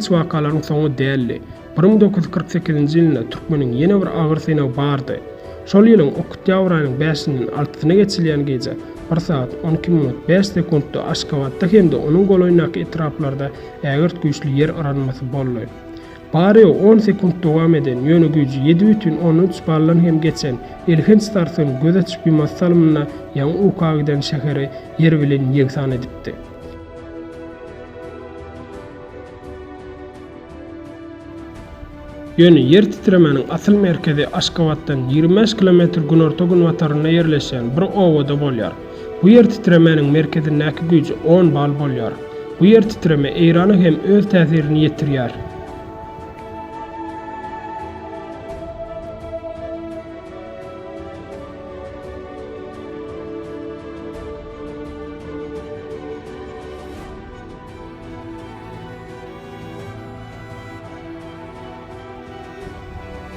Hiç wakalaryň soňy däldi. Bir müň dokuz ýüz kyrk sekizinji ýylynda türkmeniň ýene bir agyr synagy bardy. Şol ýylyň oktýabr aýynyň bäşinden altysyna geçilýän gije bir sagat on iki minut bäş sekuntda Aşgabatda hem-de onuň golaýyndaky etraplarda ägirt güýçli ýer yranmasy boldy. Bary on sekunt dowam eden, ýöne güýji ýedi bütin ondan üç baldan hem geçen elhenç sarsgyn göz açyp-ýumas salymynda ýaňy uka giden şäheri ýer bilen ýegsan edipdi. Ýöne ýer titremäniň asyl merkezi Aşgabatdan ýigrimi bäş kilometr günorta-günbatarynda ýerleşýän bir obada bolýar. Bu ýer titremäniň merkezindäki güýji on bal bolýar. Bu ýer titreme Eýrana hem öz täsirini ýetirýär.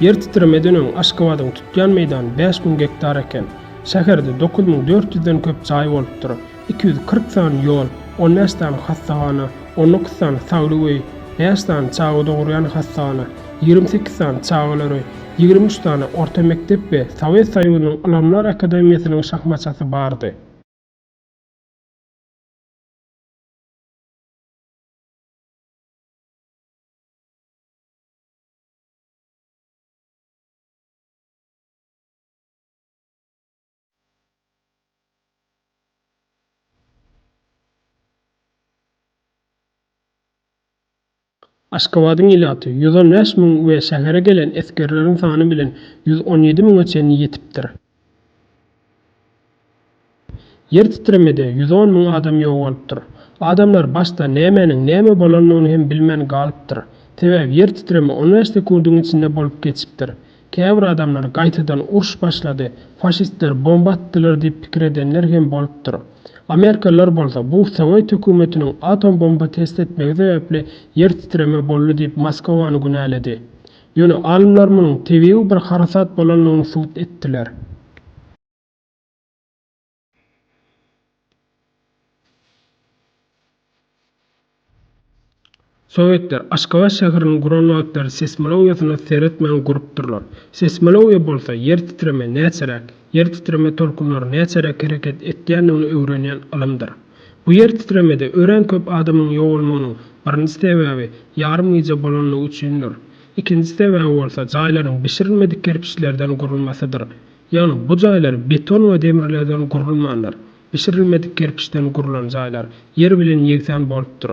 Ýer titremeden öň Aşgabadyň tutýan meýdany bäş müň gektar eken. Şäherde dokuz müň dört ýüzden köp jaý bolupdyr, iki ýüz kyrk sany ýol, on bäş sany hassahana, on dokuz sany saglyk öýi, bäş sany çaga dogurýan hassahana, ýigrimi sekiz sany çagalar öýi, ýigrimi üç sany orta mekdep we Sowet Soýuzynyň Ylymlar akademiýasynyň şahmaçasy bardy. Aşgabadyň ilaty ýüz on bäş müň we şähere gelen esgerleriň sany bilen ýüz on ýedi müňe çenli ýetipdir. Ýer titremede ýüz on müň adam ýok bolupdyr. Adamlar başda nämäniň näme bolandygyny hem bilmän galypdyr. Sebäbi ýer titreme on bäş sekundyň içinde bolup geçipdir. Käbir adamlar gaýtadan uruş başlady, faşistler bomba atdylar diýip pikir edenler hem bolupdyr. Amerikalylar bolsa bu sowet hökümetiniň atom bomba test etmegi sebäpli ýer titreme boldy diýip Moskowany günäledi. Ýöne alymlar munuň tebigy bir harasat bolandygyny subut etdiler. Sowetler Aşgabat şäherini guran wagtlary seýsmologiýasyna seretmän gurupdyrlar. Seýsmologiýa bolsa ýer titreme näçeräk, ýer titreme tolkunlary näçeräk hereket etýändigini öwrenýän ylymdyr. Bu ýer titremede örän köp adamyň ýogalmagynyň birinji sebäbi ýarym gije bolandygy üçindir. Ikinji sebäbi bolsa jaýlaryň bişirilmedik kerpiçlerden gurulmasydyr. Ýagny bu jaýlar beton we demirlerden gurulmandyr. Bişirilmedik kerpiçden gurlan jaýlar ýer bilen ýegsan bolupdyr.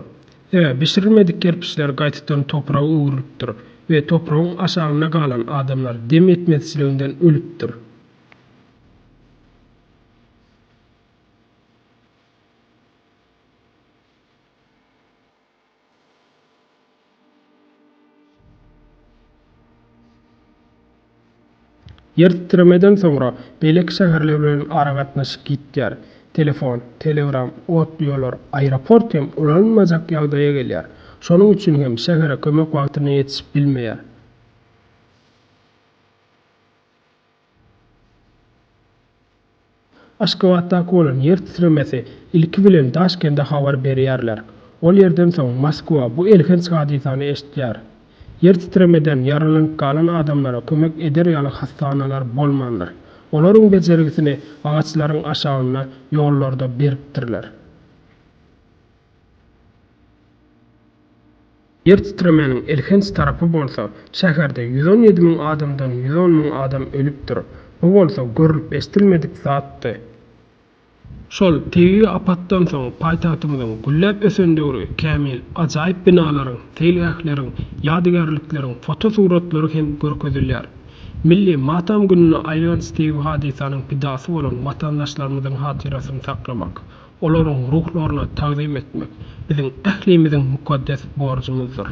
Sebäbi bişirilmedik kerpiçler gaýtadan topraga öwrülipdir we topragyň aşagynda galan adamlar dem ýetmezçiliginden ölüpdir. Ýer titremeden soňra beýleki şäherler bilen aragatnaşyk ýitýär. Telefon, telegram, otly ýollar, aeroport hem ulanylmajak ýagdaýa gelýär. Şonuň üçin hem şähere kömek wagtyna ýetişip bilmeýär. Aşgabatdaky bolan ýer titremesi ilki bilen Daşkende habar berýärler. Ol ýerden soň Moskwa bu elhenç hadysany eşitýär. Ýer titremeden ýaralanyp galan adamlara kömek eder ýaly hassahanalar bolmandyr. Olaryň bejergisini agaçlaryň aşagynda ýollarda beripdirler. Ýer titremäniň elhenç tarapy bolsa, şäherde ýüz on ýedi müň adamdan ýüz on müň adam ölüpdir. Bu bolsa görlüp-eşdilmedik zatdy. Şol tebigy apatdan soň paýtagtymyzyň gülläp ösen döwri kämil, ajaýyp binalaryň, seýilgähleriň, ýadygärlikleriň fotosuratlary hem görkezilýär. Milli matam gününe aýlanç tebigy hadysanyň pidasy bolan watandaşlarymyzyň hatyrasyny saklamak, Olaryň ruhlaryna tagzym etmek biziň ählimiziň mukaddes borjumyzdyr.